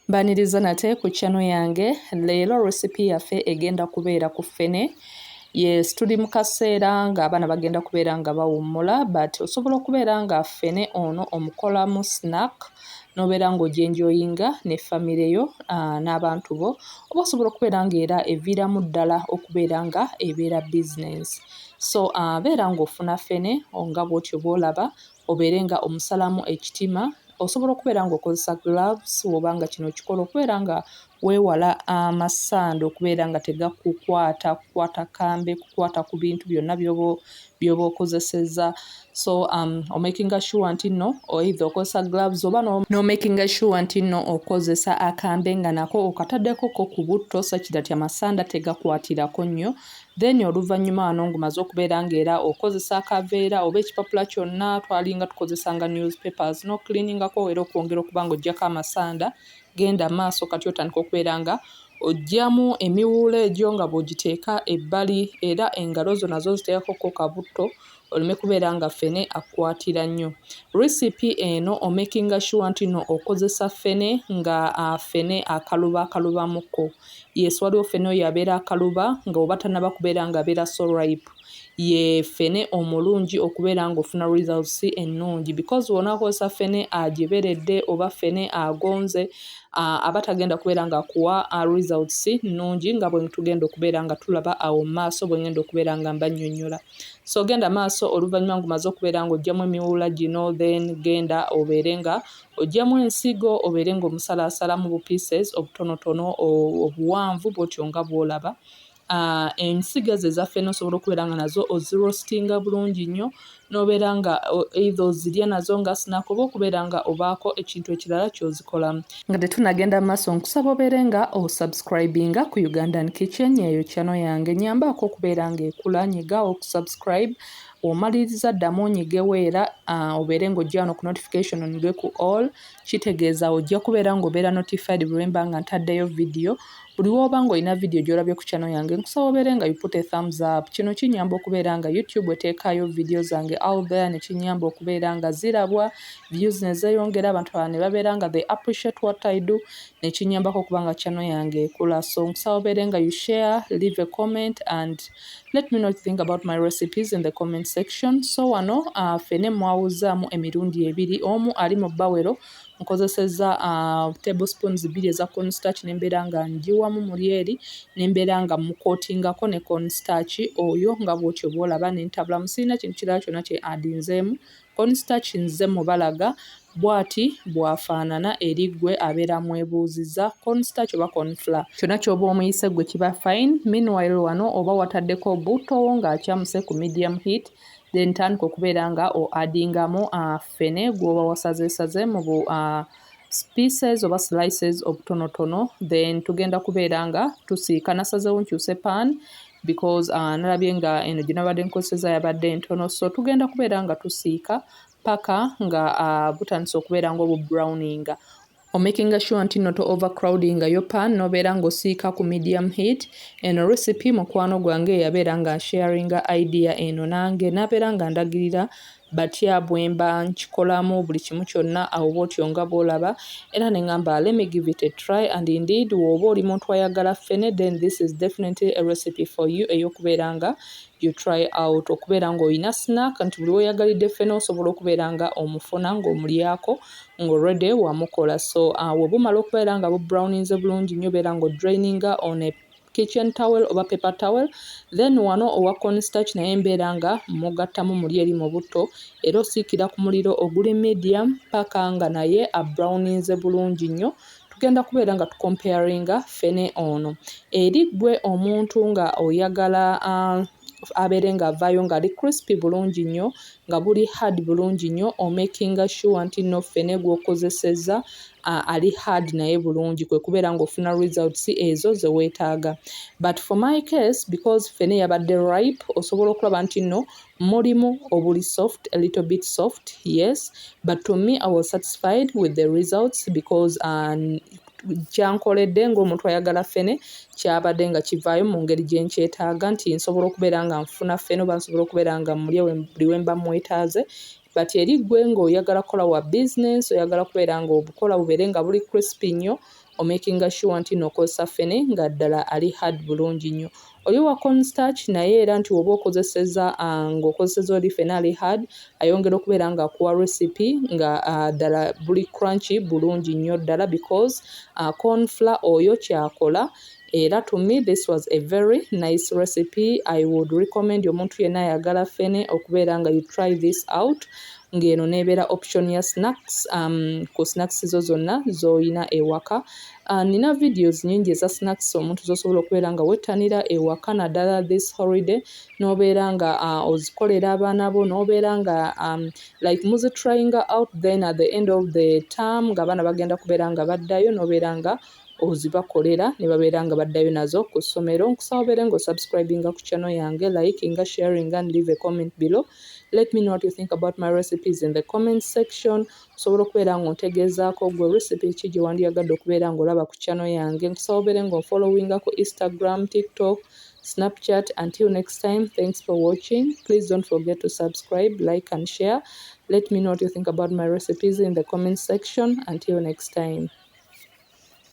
Mbaniriza nate ku channel yange leero recipe yaffe egenda kubeera ku ffene yes tuli mu kaseera ng'abaana bagenda kubeera nga bawummula but osobola okubeera nga ffene ono omukolamu snack n'obeera ng'ojenjoyinga ne famire yo ah, n'abantu bo oba osobola okubeera ng'era eviiramu ddala okubeera nga ebeera bizinensi so ah, beera ng'ofuna ffene nga bwotyo bwolaba Obeere nga omusalaamu ekitima, osobola okubeera nga okozesa gloves woba nga kino okikola okubeera nga wewala amasanda okubeera nga tegakukwata kukwata kambe kukwata ku bintu byonna byobo byoba okozeseza so um, omakinga sure nti no oidha okozesa gloves oba nomakinga no sure nti no okozesa akambe nga nako okataddekoko ku butto sakira ti amasanda tegakwatirako nnyo Then oluvanyuma wano ngumaze okubeera nga era okozesa akaveera oba ekipapula kyonna twalinga tukozesa nga news papers no cleaningako era okwongera okuba nga ojjako amasanda genda maaso kati otandika okubeera nga ojjamu emiwuula egyo nga bw'ogiteeka ebbali era engalo zo nazo ziteekako ko kabutto oleme kubeera nga ffene akukwatira nnyo recipe eno omakinga shuwa nti no okozesa ffene nga ffene akaluba akalubamukko yes waliwo ffene oyo abeera akaluba nga oba tanaba kubeera nga abeera so ripe ye ffene omulungi okubeera nga ofuna results ennungi because wona akozesa ffene agiberedde oba ffene agonze aba tagenda kubeera nga akuwa results nnungi nga bwetugenda okubeera nga tulaba awo mu maaso bwengenda okubeera nga mbanyonyola so genda maaso oluvannyuma ngumaze okubeera nga ojjamu emiwuula gino then genda obeere nga ojjamu ensigo obeere nga omusalaasalamu bu pieces obutonotono obuwanvu bwotyo nga bwolaba Uh, ensigo ezo ezaffe nosobola okubeera nga nazo ozirostinga bulungi nnyo nobeera nga eitha ozirya nazo nga snack oba okubeera nga obaako ekintu ekirala kyozikolamu nga tetunagenda maaso nkusaba obeere nga osubscribinga ku ugandan kitchen eyo kyano yange nyambaako okubeera nga ekula nyiga okusubscribe omaliriza ddamu onyigewo era obeere nga ojja wano ku notification onige ku all kitegeeza ojja kubeera ngaobeera notified bwemba nga ntaddeyo vidiyo Buli wooba nga olina video gyolabye ku channel yange nkusaba obeere nga you put a thumbs up kino kinyamba okubeera nga YouTube eteekaayo video zange out there ne kinyamba okubeera nga zirabwa views ne zeyongera abantu abalala ne babeera nga they appreciate what I do ne kinyambako okuba nga channel yange ekula so nkusaba obeere nga you share leave a comment and let me know what you think about my recipes in the comment section so wano uh, fene mwawuzaamu emirundi ebiri omu ali mu bawero nkozesezza table spoons bbiri eza corn starch ne mbeera nga ngiwamu muli eri ne mbeera nga mukootingako ne corn starch oyo nga bw'otyo bw'olaba ne ntabulamu sirina kintu kirala kyonna kye adinzeemu corn starch nze mubalaga bw'ati bw'afaanana eri ggwe abeera amwebuuzizza corn starch oba corn flour kyonna ky'oba omuyise ggwe kiba fine meanwhile wano oba wataddeko butto wo ng'akyamuse ku medium heat then tandika okubeera nga o adingamu uh, fene gwoba wasazesaze mu bu uh, pieces oba slices obutonotono then tugenda kubeera nga tusiika nasazewo nkyuse pan because uh, nalabye nga eno gyenabadde nkozeseza yabadde entono so tugenda kubeera nga tusiika paka nga uh, butandisa okubeera nga obubrowninga omakinga sure nti no to overcrowding yo pan nobeera ng'osiika ku medium heat eno recipe mukwano gwange eyabeera nga nsharinga idea eno nange nabeera nga ndagirira batya bwemba nkikolamu buli kimu kyonna awo bwotyo nga bwolaba era ne ngamba let me give it a try and indeed wooba oli muntu ayagala ffene then this is definitely a recipe for you eyokubeera nga you try out okubeera ng'olina snack nti buli weyagalidde ffena osobola okubeera nga omufuna ng'omulyako ng'already wamukola so uh, webumala okubeera nga bubrowninze bulungi nnyo beera ng'odraininga on a kitchen towel oba paper towel then wano owa constarch naye mbeera nga mugattamu muli eri mu butto era osiikira ku muliro oguli medium paka nga naye abrowninze bulungi nnyo tugenda kubeera nga tukomparinga ffene ono eri ggwe omuntu nga oyagala uh, abeere nga avaayo ngaali crispy bulungi nnyo nga guli hard bulungi nnyo omakinga sure nti no ffene gwokozesezza uh, ali hard naye bulungi kwe kubeera ng'ofuna results ezo ze weetaaga but for my case because ffene yabadde ripe osobola okulaba nti nno Mulimu obuli soft a little bit soft yes but to me I was satisfied with the results because um, kyankoledde ng'omuntu ayagala ffene kyabadde nga kivaayo mu ngeri gye nkyetaaga nti nsobola okubeera nga nfuna ffene oba nsobola okubeera nga mulya buli we mba mwetaaze but eri ggwe ng'oyagala kukola wa bizinensi oyagala kubeera ng'obukola bubeere nga buli crispy nnyo omakinga sure ntino okozesa ffene nga ddala ali hard bulungi nnyo oyo wa corn starch naye era nti woba okozeseza ah, nga okozeseza oli ffene ali hard ayongera okubeera nga akuwa recipe nga ah, ddala buli crunchy bulungi nnyo ddala because ah, corn flour oyo kyakola Era to me this was a very nice recipe I would recommend omuntu yenna ayagala fene okubeera nga you try this out ng'eno n'ebeera option ya snacks um, ku snacks zo zonna z'olina ewaka uh, nina videos nyingi eza snacks omuntu z'osobola okubeera nga wettanira ewaka naddala this holiday n'obeera nga uh, ozikolera abaana bo n'obeera nga um, like muzitryinga out then at the end of the term ng'abaana bagenda kubeera nga baddayo n'obeera nga ozibakolera ne babeera nga baddayo nazo ku ssomero nkusaba obeere nga osubscribinga ku channel yange likinga sharing and leave a comment below let me know what you think about my recipes in the comment section osobola okubeera nga ontegeezaako gwe recipe ki gye wandiyagadde okubeera nga olaba ku channel yange nkusaba obeere nga onfollowinga ku instagram tiktok snapchat until next time thanks for watching please don't forget to subscribe like and share let me know what you think about my recipes in the comment section until next time